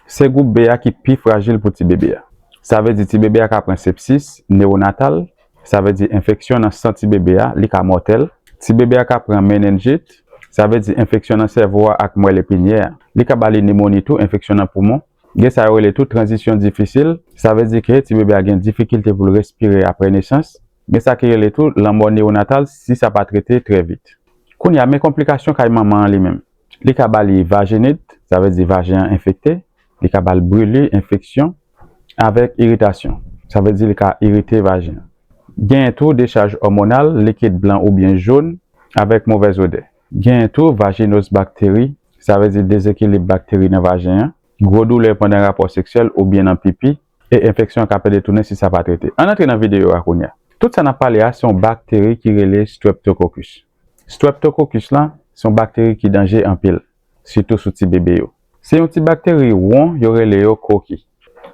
Se gwoup B a ki pi frajil pou ti bebe a. Sa vle di ti bebe a ka pran sepsis newonatal, sa vle di enfeksyon nan san ti bebe a, li ka mòtèl. Ti bebe a ka pran menenjit, sa vle di enfeksyon nan sèvo a ak mwèl epinyè a. Li ka ba li nimoni tou, enfeksyon nan poumon. Gen sa yo rele tou tranzisyon difisil, sa vle di ke ti bebe a gen difikilte pou l respire apre nesans. Gen sa ki rele tou lanmò newonatal si sa pa trete trè vit. Kounye a, men konplikasyon kay manman an li menm. Li ka ba li vajenit, sa vle di vajen an enfekte, li ka ba l brili, enfeksyon, avèk iritasyon, sa vle di li ka irite vajen an. Genyen tou dechaj òmonal, likid blan oubyen jòn, avèk movèz odè. Genyen tou vajinoz bakteri, sa vle di dezekilib bakteri nan vajen an, gwo doulè pandan rapò seksyèl oubyen nan pipi, e enfeksyon an ka pèdetounen si sa pa trete. Ann antre nan videyo a kounye a. Tout sa n ap pale a se yon bakteri ki rele streptococcus. Streptokokus la se yon bakteri ki danje anpil, sitou sou ti bebe yo. Se yon ti bakteri won yo rele yo koki.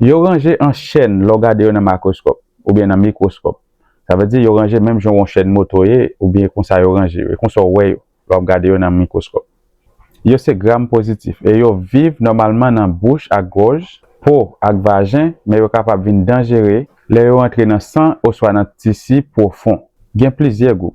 Yo ranje an chèn lè w gade yo nan makroskòp oubyen nan mikwoskòp. Sa vle di yo ranje menm jan yon chèn moto ye oubyen konsa yo ranje yo, e konsa w wè yo lè w ap gade yo nan mikwoskòp. Yo se gram pozitif e yo viv nòmalman nan bouch ak gòj, po ak vajen men yo kapab vin danjere lè yo antre nan san oswa nan tisi pwofon. Gen plizyè gwoup.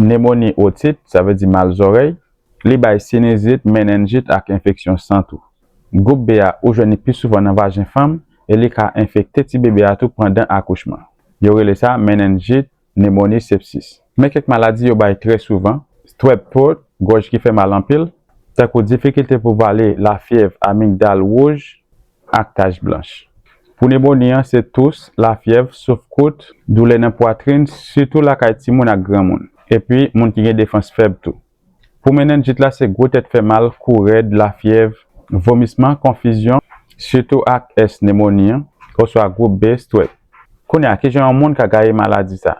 nemoni otit, sa vle di mal zòrèy, li bay sinizit, menenjit ak enfeksyon san tou. Gwoup B a ou jwenn li pi souvan nan vajen fanm e li ka enfekte ti bebe a tou pandan akouchman. Yo rele sa menenjit, nemoni, sepsis. Men kèk maladi yo bay trè souvan, strep throat, gòj ki fè mal anpil, tankou difikilte pou vale, lafyèv, amigdal wouj, ak tach blanch. Pou nemoni an se tous, lafyèv, souf kout, doulè nan pwatrin, sitou lakay timoun ak granmoun. Epi moun ki gen defans fèb tou. Pou menenjit la se gwo tèt fè mal, kou rèd, lafyèv, vomisman, konfizyon, sitou ak S nemoni an, oswa gwoup B stwèp. Kounye a, kijan yon moun ka gaye maladi sa?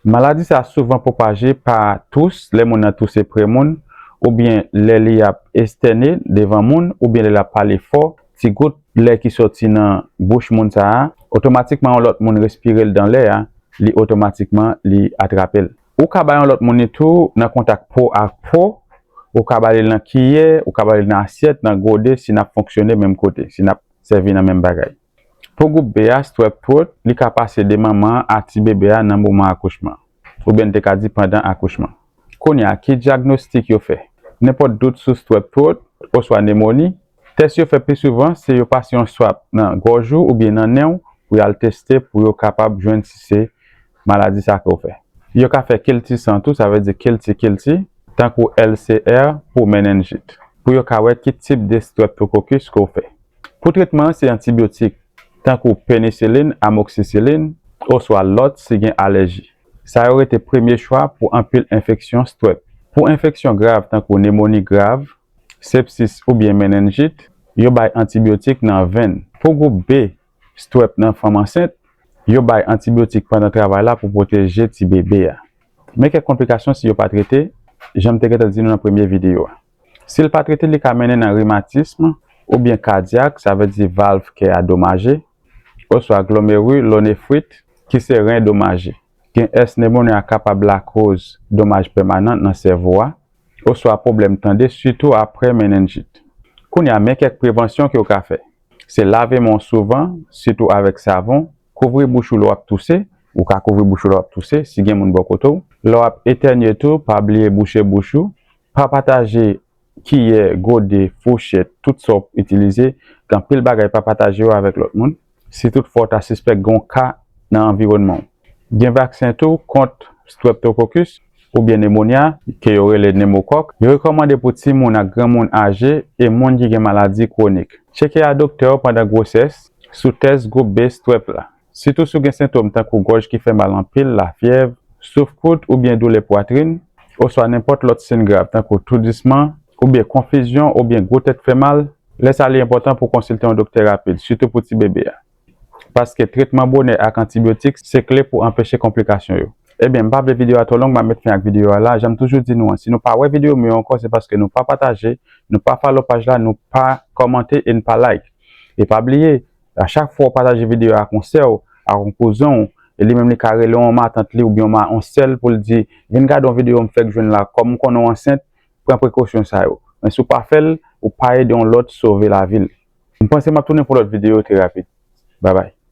Maladi sa souvan pwopaje pa tous, lè moun nan touse pre moun, oubyen lè li ap estène devan moun, oubyen lè l ap pale fò, ti gout lè ki sòti nan bouch moun sa a, otomatikman yon lòt moun respire l dan lè a, li otomatikman li atrape l. Ou ka ba yon lòt moun li tou nan kontak po ak po, ou ka ba li l nan kiyè, ou ka ba li l nan asyèt, nan gode si n ap fonksyone menm kote, si n ap sèvi nan menm bagay. Pou gwoup B a, Strep Throat, li ka pase de manman an a ti bebe a nan moman akouchman, oubyen n te ka di pandan akouchman. Kounye a, ki dyagnostik yo fè? Nenpòt dout sou Strep Throat oswa nemoni, tès yo fè pi souvan se yo pase yon swap nan gòj ou oubyen nan nen w pou y al teste pou yo kapab jwenn si se maladi sa ke w fè. Yo ka fè kilti san tou, sa vle di kilti kilti, tankou LCR pou menenjit, pou yo ka wè ki tip de streptokokis ke w fè. Pou tretman an se antibyotik tankou penisilin, amoksisilin, oswa lòt si gen alèji. Sa yo rete premye chwa pou anpil enfeksyon Strep. Pou enfeksyon grav tankou nemoni grav, sepsis oubyen menenjit, yo bay antibyotik nan venn. Pou gwoup B Strep nan fanm ansent, yo bay antibyotik pandan travay la pou pwoteje tibebe a. Men kèk konplikasyon si yo pa trete, jan m te gentan di nou nan premye videyo a. Si l pa trete li ka mennen nan rimatism oubyen kadyak sa vle di valv kè a domaje, oswa glomerulonephrite ki se ren domaje. Gen ès nemoni a kapab lakoz domaj pèmanan nan sèvo a, oswa pwoblèm tande sitou aprè menenjit. Kounye a men kèk prevansyon ke w ka fè, se lave men w souvan sitou avèk savon, kouvri bouch ou lè w ap touse, ou ka kouvri bouch ou lè w ap touse si gen moun bò kote w, lè w ap etènye tou pa bliye bouche bouch ou Pa pataje kiyè, gode, fouchèt, tout sa w p itilize, gen anpil bagay pa pataje yo avèk lòt moun, si tout fwa w ta sispèk gen yon ka nan anviwònman w. Gen vaksen tou kont streptococcus oubyen nemonya ke yo rele pneumococque. Yo rekòmande pou timoun ak granmoun aje e moun ki gen maladi kwonik. Tcheke a doktè w pandan gwosès sou tès gwoup B strep la. sitou si w gen sentom tankou gòj ki fè mal anpil, lafyèv, souf kout oubyen doulè pwatrin, oswa nenpòt lòt sin grav tankou toudisman oubyen konfizyon oubyen gwo tèt fè mal, lè sa li enpòtan pou w konsilte yon doktè rapid, sitou pou tibebe a. Paske tretman bonè ak antibyotik se kle pou anpeche konplikasyon yo. Ebyen, m pa vle videyo a twò long, m ap met fen ak videyo a la. Jan m toujou di nou an, si nou pa wè videyo m yo ankò se paske nou pa pataje, nou pa follow paj la, nou pa kòmante e n pa like. E pa bliye, A chak fwa ou pataje videyo a ak yon sè w, ak yon kouzen w, e li menm li ka rele yon matant li oubyen yon sè l pou l di, vin gade yon videyo m fèk jwenn la, kòm m konnen w ansent, pran prekosyon sa yo. Men si w pa fè l, ou pa ede yon lòt sove lavi l. M panse m ap tounen pou lòt videyo terapi. Babay.